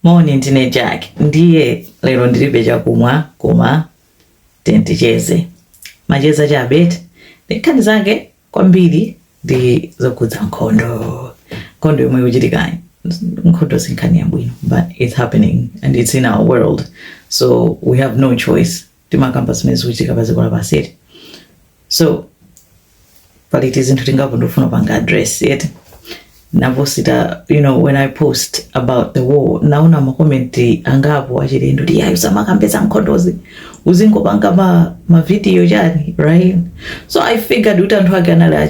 Moni ndine Jack ndiye lero ndilibe chakumwa koma timati ticheze macheza chabe eti ndi nkhani zake kwambiri ndi zokhudza nkhondo nkhondo yomwe ikuchitika nkhondo sinkhani yabwino but it's happening and it's in our world so we have no choice timakamba zimene zikuchitika pa dziko lapansi eti so pali tizinthu tingapo ndikufuna panga address eti ndikaposita you know when i post about the war naona makomenti angapo achilendo kuti ayi usamakambe za nkhondozi uzingopanga mavidiyo chani right so i figured kuti anthu ake anali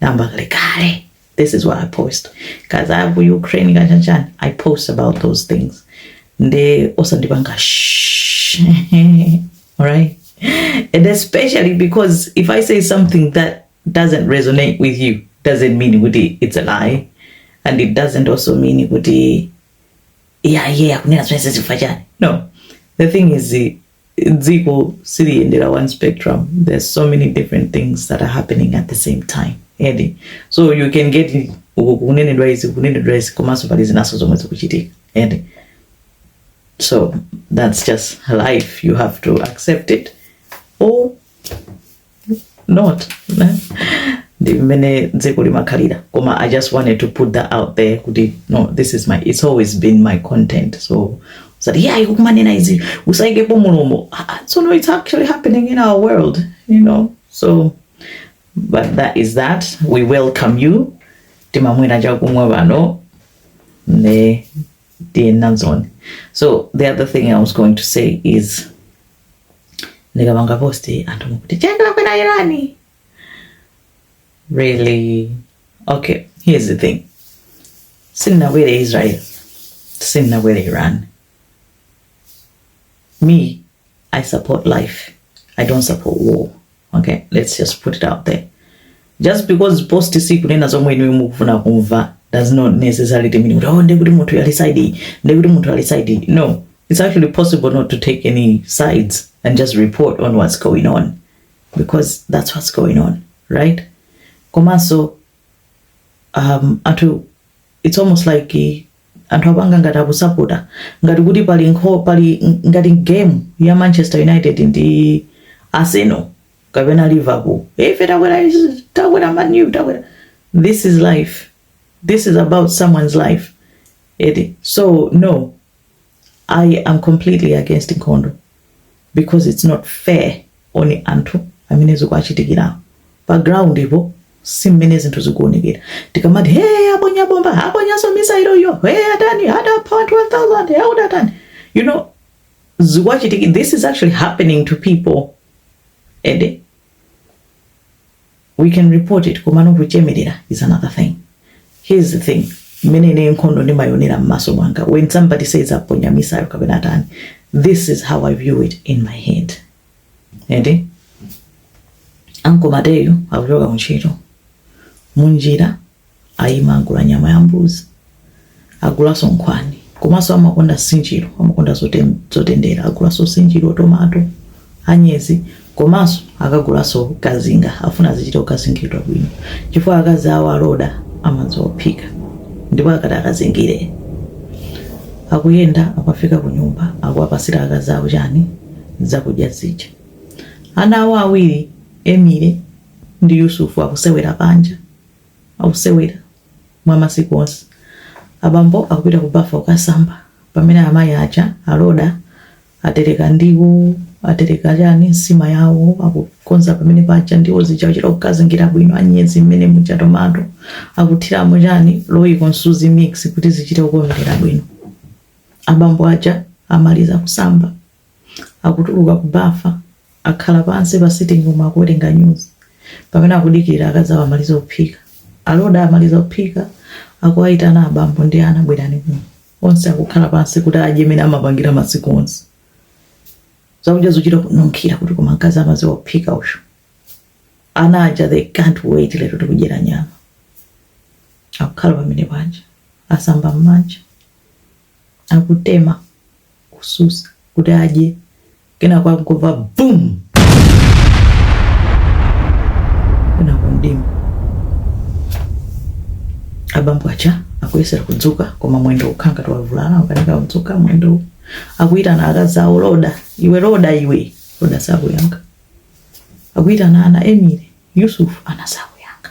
namba kale kale this is what i post kaza ya ku ukraine kachanchani i post about those things nde osandipanga shh. alright and especially because if i say something that doesn't resonate with you doesn't mean kuti it's a lie and it doesn't also mean kuti yeah yeah kunena zvinhu zvichifachana no the thing is eh, dziko siliyendera one spectrum there's so many different things that are happening at the same time eti so you can get kunenedwa izi kunenedwa izi komanso pali zinanso zomwe zikuchitika eti so that's just life you have to accept it or not ne? ndi mmene dziko limakhalira koma i just wanted to put that out there kuti no this is my it's always been my content so usati yeah ikukumanena izi usaikepo mulomo Ah, ah, so no it's actually happening in our world you know so but that is that we welcome you timamwera chakumwa pano ne tiye nanzoni so the other thing i was going to say is ndikapanga post anthu mukuti Jack wakwera irani really okay here's the thing sindinakwere israel sindinakwere iran me i support life i don't support war okay let's just put it out there just because post sikunena zomwe inuyo mukufuna kumva does not necessarily mean kuti oh ndekuti munthu ali side iyi ndekuti munthu ali side iyi no it's actually possible not to take any sides and just report on what's going on because that's what's going on right komanso um, anthu it's almost like eh, anthu apanga ngati akusapota ngati kuti pali nkho pali ngati game ya manchester united ndi arsenal kapena liverpool Eh, ife takwera izi, takwera Man U takwera this is life this is about someone's life eti so no I am completely against nkhondo because it's not fair on anthu amene zikuwachitikirawo. Pa ground po si mmene zinthu zikuonekera. Tikamati hey aponya bomba, aponyanso misailo iyo, hey atani atapha anthu 1000, hey utatani. You know zikuwachitikira this is actually happening to people. Ende. we can report it komano kuchemelera is another thing here is the thing mmene ine nkhondo ndimayionera m'maso mwanga when somebody says aponya misailo kapena atani this is how i view it in my head ende ankolo mateyo akuchoka kuntchito munjira Ayima agula nyama ya mbuzi, agulaso nkhwani komaso amakonda nsinjiro, amakonda zotendera agulaso sinjiro, tomato, anyezi komaso akagulaso kazinga afuna zichita kukazingidwa bwino chifukwa akazi awo a Loda amadziwa kuphika ndipo akati akazingire akuyenda akafika kunyumba akuwapasira akazi awo chani zakudya zija. Ana awo awiri Emily ndi Yusufu akusewera panja. Akusewera mwa masiku onse. Abambo akupita ku bafa kukasamba pamene amayi aja, a Loda, atereka ndiwo, atereka chani, nsima yawo, akukonza pamene paja, ndiwo zija akuchita kukazingira bwino, anyezi mmene muja, tomato, akuthiramo chani, Royco, msuzi mix kuti zichite kukomerera bwino. Abambo aja amaliza kusamba. akutuluka ku bafa, akhala pansi pa sitting room akuwerenga news, pamene akudikira akazi awo amalize kuphika. A Loda amaliza kuphika, akuwayitana abambo ndi ana bwerani kuno. Onse akukhala pansi kuti adye mene amapangira masiku onse. Zakudya zuchita kununkhira kuti koma mkazi amaziwa kuphika uyu. Ana aja they can't wait lero tikudyera nyama. Akukhala pamene panja, asamba mmanja, akutema. kususa kuti adye kenako akungomva bum kenako mdima abambo aja akuyesera kudzuka koma mwendo ukhala ngati wavulala ukanika kudzuka mwendo akuyitana akazi awo loda iwe loda iwe loda sakuyankha akuyitana ana emile yusufu ana sakuyankha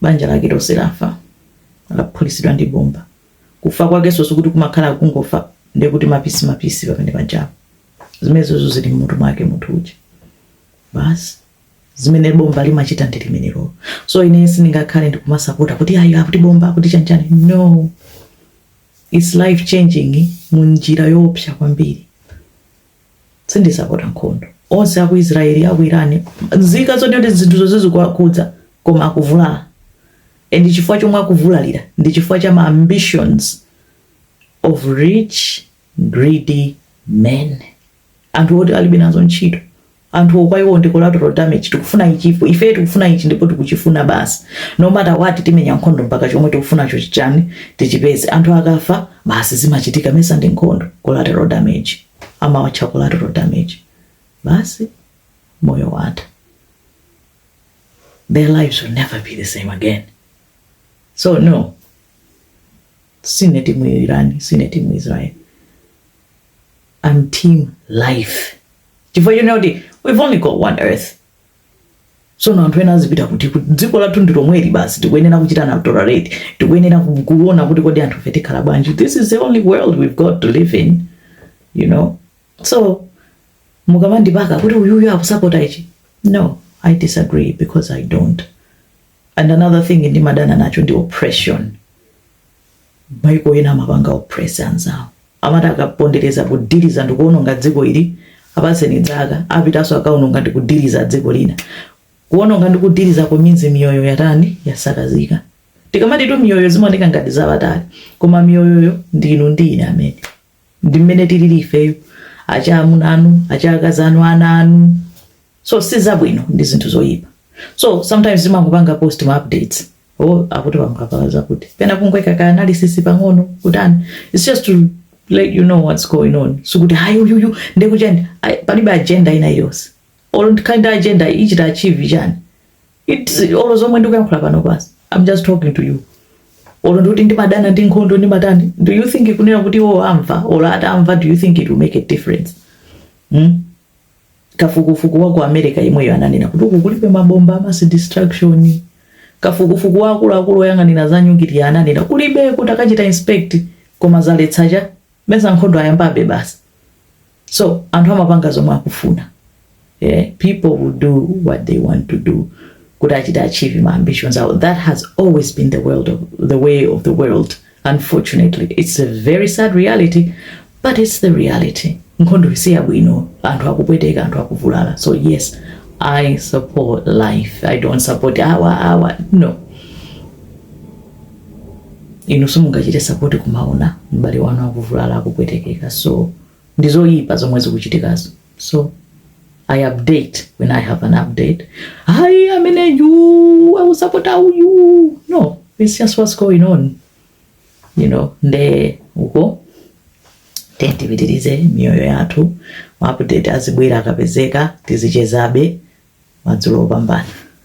Banja lake lonse lafa, laphulitsidwa ndi bomba. Kufa kwakeso sikuti kumakhala kungofa ndiye kuti mapisimapisi pamene pajapo. Zimenezo zili m'mutu mwake munthu uja. Basi zimene bomba limachita ndi limenelo. So ine sindingakhale ndikumasapota kuti ayi akuti bomba akuti chanchani no it's life changing mu njira yoopsa kwambiri Sindisapota nkhondo. Onse a ku Israeli a ku Irani nzika zoti zinthu zonse zikuwakhudza koma akuvulala and chifukwa chomwe akuvulalira ndi chifukwa cha ma ambitions of rich greedy men anthu oti alibe nazo ntchito anthuwo kwa iwo ndi collateral damage tikufuna ichi ife tikufuna ichi ndipo tikuchifuna basi no matter what timenya nkhondo mpaka chomwe tikufunacho chichani tichipeze anthu akafa basi zimachitika mesa ndi nkhondo collateral damage amawatcha collateral damage basi moyo watha their lives will never be the same again so no sine timu irani sine timu israeli I'm team life chifukwa choona kuti we've only got one earth sono anthu ena azidziwa kuti dziko lathu ndi lomweli basi tikuyenera kuchitana tolerate tikuyenera kuona kuti kodi anthufe tikhala bwanji this is the only world we've got to live in you know so mukamandipaka kuti uyuyu akusapota ichi no i disagree because i don't and another thing ndimadana nacho ndi oppression Maiko ena amapanga oppress anzawo. Amati akapondereza kudyelera ndikuononga dziko ili, apatseni zaka, apitanso akaononga ndikudiliza dziko lina. Kuononga ndikudilizako means miyoyo yatani? Yasakazika. Tikamatitu miyoyo zimaoneka ngati zapatali, koma miyoyoyo ndi inu ndi ine amene. ndi mmene tilili ifeyo achamuna anu achakazi anu ana anu so si zabwino ndi zinthu zoyipa so sometimes timangopanga post ma updates oh akuti paphulika zakuti pena kungoika ka analysis pang'ono kutani it's just to let you know what's going on sikuti hayi uyuyu ndekuchani palibe agenda ina iliyonse olo nditakhala ndi agenda ichita achieve chani It's olo zomwe ndikuyankhula pano basi. I'm just talking to you. Olo ndikuti ndimadana ndi nkhondo ndimatani. Do you think kunena kuti iwo amva olo atamva do you think it will make a difference? Hmm? kafukufuku wa ku america imweyo ananena kuti uku kulibe mabomba a mass destruction kafukufuku waakuluakulu oyang'anira za nyukiliya ananena kulibe kuti akachita inspect koma zaletsa chani mesa nkhondo ayambabe basi so anthu amapanga zomwe akufuna yeah? people will do what they want to do kuti achite achieve ma ambitions awo that has always been the, world of, the way of the world unfortunately it's a very sad reality but it's the reality nkhondo si yabwino anthu akupweteka anthu akuvulala so yes i support life i don't support awa awa no inu simungachite sapoti pomaona m'bale wanu akuvulala akupwetekeka so ndi zoyipa zomwe zikuchitikazo so i update when i have an update hayi ameneyu akusapota uyu no it's just what's going on you know nde iko tiyeni tipitirize miyoyo yathu maupdate azibwera akapezeka tizichezabe madzulo opambana